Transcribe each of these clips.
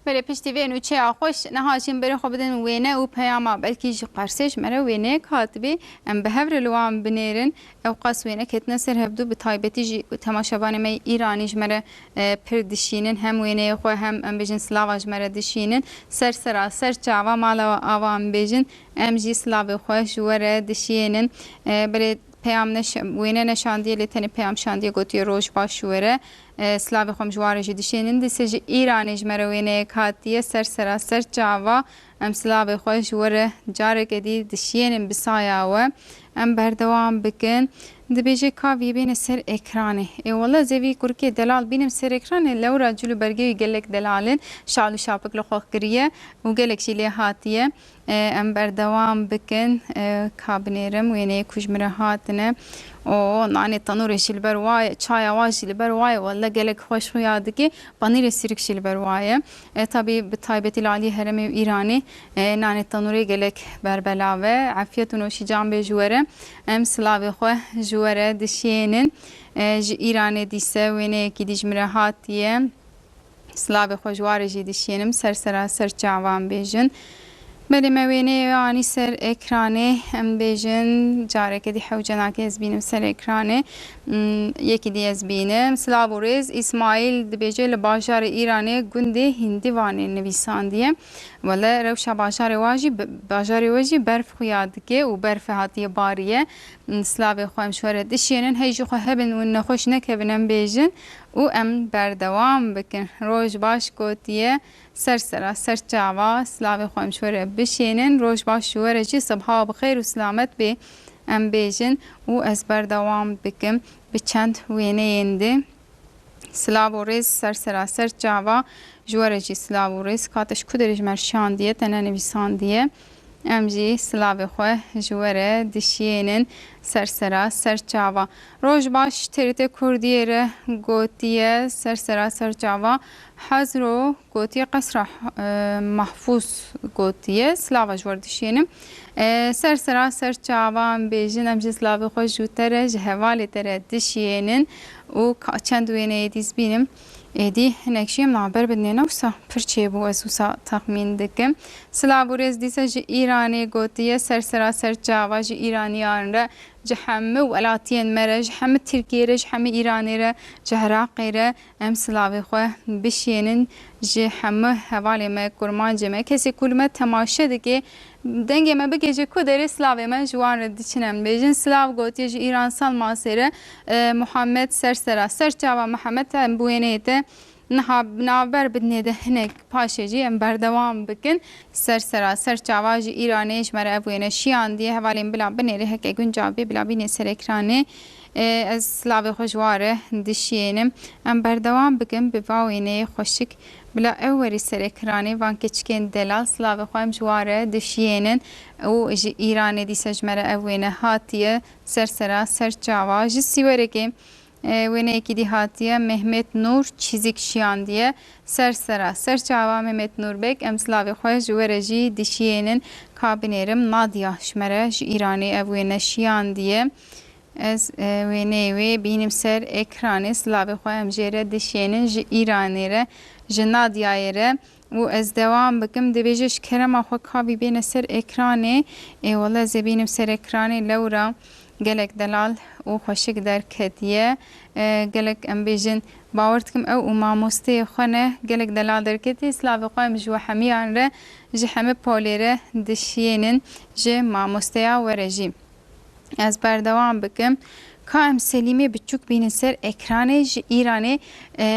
Belê piştî vê nûçeya xwe ji niha jî em berê xwe bidin wêne û peyama belkî ji Qersê ji me re wêneyek hatibê em bi hev re li wan binêrin. Ew qas wêne ketine ser hevdu bi taybetî jî temaşevanê me yê Îranî ji me re pir dişînin. Hem wêneyê xwe hem em bêjin silava ji me re dişînin. Ser sera ser çava mala we ava em bêjin em jî silavê xwe ji we re dişiyênin. Belê peyam wêne neşandiye lê tenê peyam şandiye gotiye roj baş ji we re. Silavê xwe em ji warê jî dişênin. Dîsê ji Îranê ji me re wêneyek hatiye ser seraser çava. Em silavê xwe ji we re careke dî dişênin bi saya we. Em berdewam bikin. Dibêje Kavyê bêne ser ekranê. Ê wele ez ê vî kurikê delal bînim ser ekranê. Lewra cil û bergê wî gelek delal in. Şal û şapik li xwe kiriye û gelek jî lê hatiye. Em berdewam bikin ka binêrim wêneyê ku ji min re hatine. Oo nanê tenûrê jî li ber wa ye, çaya wa jî li ber wa ye. Welle gelek xweş xuya dike. Panîrê sirk jî li ber wa ye. Tabî bi taybetî li aliyê herêmê û Îranê nanê tenûrê gelek berbelav e. Efyet û noşî can bê ji we re. Em silavê xwe ji we re dişiyênin. Ji Îranê dîse wêneyekî dî ji min re hatiye. Silavê xwe ji warê jî dişînim ser seraser çavan bêjin. Belê me wêneyê wê anî ser ekranê. Em dibêjin careke dî hewce nake ez bînim ser ekranê. Yekî dî ez bînim. Silav û rêz. Îsmaîl dibêje li bajarê Îranê gundê Hîndîvanê nivîsandiye. Wele rewşa bajarê wa jî bajarê we jî berf xuya dike û berfê hatiye bariye. Silavê xwe em ji we re dişênin. Hey jixwe hebin û nexweş nekevin em bêjin. Û em berdewam bikin. Roj baş gotiye ser sera ser çava silavê xwe em ji we re bişênin. Roj baş ji we re jî sibha bi xêr û silamet bê em bêjin û ez berdewam bikim bi çend wêneyên di. Silav û rêz ser sera ser çava ji we re jî silav û rêz. Kate ji ku derê ji me re şandiye te ne nivîsandiye. Em jî silavê xwe ji we re dişiyênin sersera ser çava. Rojbaş, TRT Kurdiyê re gotiye sersera ser çava Hazro gotiye qesra Mahfûz gotiye silava ji we re dişiyênim. Sersera ser çava em bêjin em jî silavê xwe ji te re ji hevalê te re dişiyênin û ka çend wêneyê dîs bînim. Êdî hinek jî em naber bidinê ne wisa pir çêbû ez wisa texmîn dikim. Silav û rêz dîsa ji Îranê gotiye ser seraser çava ji Îranîyan re ji hemû welatiyên me re ji hemû Tirkiyê re ji hemû Îranê re ji Hiraqê re em silavê xwe bişênin ji hemû hevalê me kurmancê me kesê ku li me temaşe dike Dengê me bike ji ku derê silavê me ji wan re diçin em bêjin silav gotiye ji Îran sal masê re Muhammed ser sera ser çava Mihemed em bi wêneyê te niha bi navber bi dinê de hinek paşê jî em berdewam bikin ser sera ser çava ji Îranê ji me re ev wêne şiyandiye hevalên bila binêrê heke gund cavbê bila bînê ser ekranê ez silavê xwe ji wan re dişiyênim em berdewam bikin bi va wêneyê xweşik Bila ew werî serê kiranê van keçikên delal silavê xwe em ji wan re dişiyênin û ji Îranê dîsa ji me re ev wêne hatiye ser sera ser çawa ji sîwerekê wêneyekî dî hatiye Mehmet Nur çîzik şiyandiye ser sera ser çawa Mehmet Nur beg em silavê xwe ji we re jî dişiyênin ka binêrim Nadia ji me re ji Îranê ev wêne şiyandiye Ez wêneyê wê bînim ser ekranê, silavê xwe em jê re dişênin ji Îranê re, ji Nadiayê re û ez dewam bikim dibêje ji kerema xwe ka vî bêne ser ekranê, ê wele ez ê bînim ser ekranê lewra gelek delal û xweşik derketiye, gelek em bêjin bawer dikim ew û mamosteyê xwe ne, gelek delal derketiye, silavê xwe em ji we hemiyan re, ji heme polê re dişênin, ji mamosteya we re jî. Ez berdewam bikim. Ka em Selîmê biçûk bînin ser ekranê ji Îranê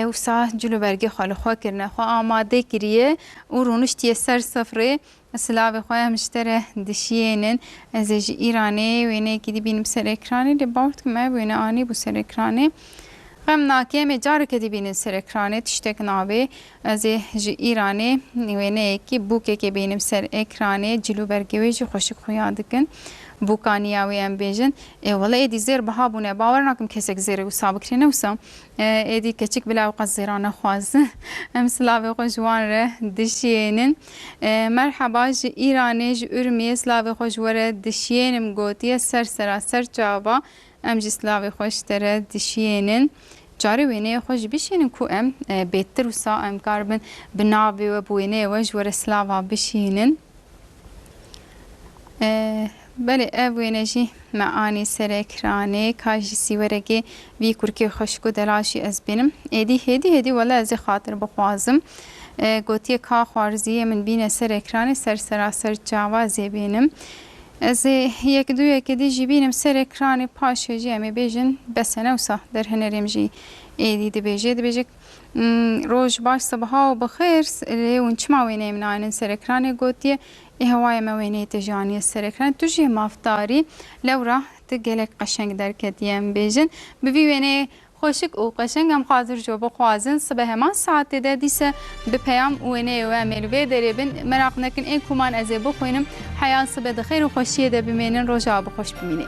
wisa cilûbergê xwe li xwe kirine, xwe amade kiriye û rûniştiye ser sifrê. Silavê xwe em ji te re dişiyênin. Ez ê ji Îranê wêneyekî dibînim ser ekranê lê bawer dikim ev wêne anîbû ser ekranê. Xem nake em ê careke dibînin ser ekranê tiştek nabê. Ez ê ji Îranê wêneyekî bûkekê bînim ser ekranê, cil û bergê wê jî xweşik xuya dikin. Bûka niya wê em bêjin, ê wele êdî zêr biha bûne, bawer nakim kesek zêrê wisa bikirê ne wisa. Êdî keçik bila ew qet zêra nexwaz. Em silavê xwe ji wan re dişiyênin. Merheba ji Îranê, ji Urmiyê silavê xwe ji we re dişiyênim gotiye ser sera ser çava. Em jî silavê xwe ji te re dişiyênin. Carê wêneyê xwe jî bişînin ku em bêtir û sax em kar bin bi navê we, bi wêneyê we ji we re silava bişînin. Belê ev wêne jî me anî ser ekranê. Ka ji sîwerekê vî kurkê xweşik û delaşî ez bînim. Êdî hêdî hêdî wele ez ê xatir bixwazim. Gotiye ka xwarzîyê min bîne ser ekranê, ser seraser çawa ez ê bînim. Ez ê yek du yekê dî jî bînim serê kranê paşê jî em ê bêjin bes e ne wisa der hunerê min jî êdî dibêje dibêje roj baş sibiha û bi xêr lê hûn çima wêneyê min nayênin serê kranê gotiye ê hewayê me wêneyê te jî aniye serê kranê tu jî mafdarî lewra tu gelek qeşeng derketî em bêjin bi vî wêneyê Xweşik û qeşeng em xwazir jo bixwazin sibe heman saetê de dîse bi peyam û wêneyê we em ê li vê derê bin. Meraq nekin ê kuman ez ê bixwînim. Heya sibe di xêr û xweşiyê de bimênin roja we bi xweş bimînê.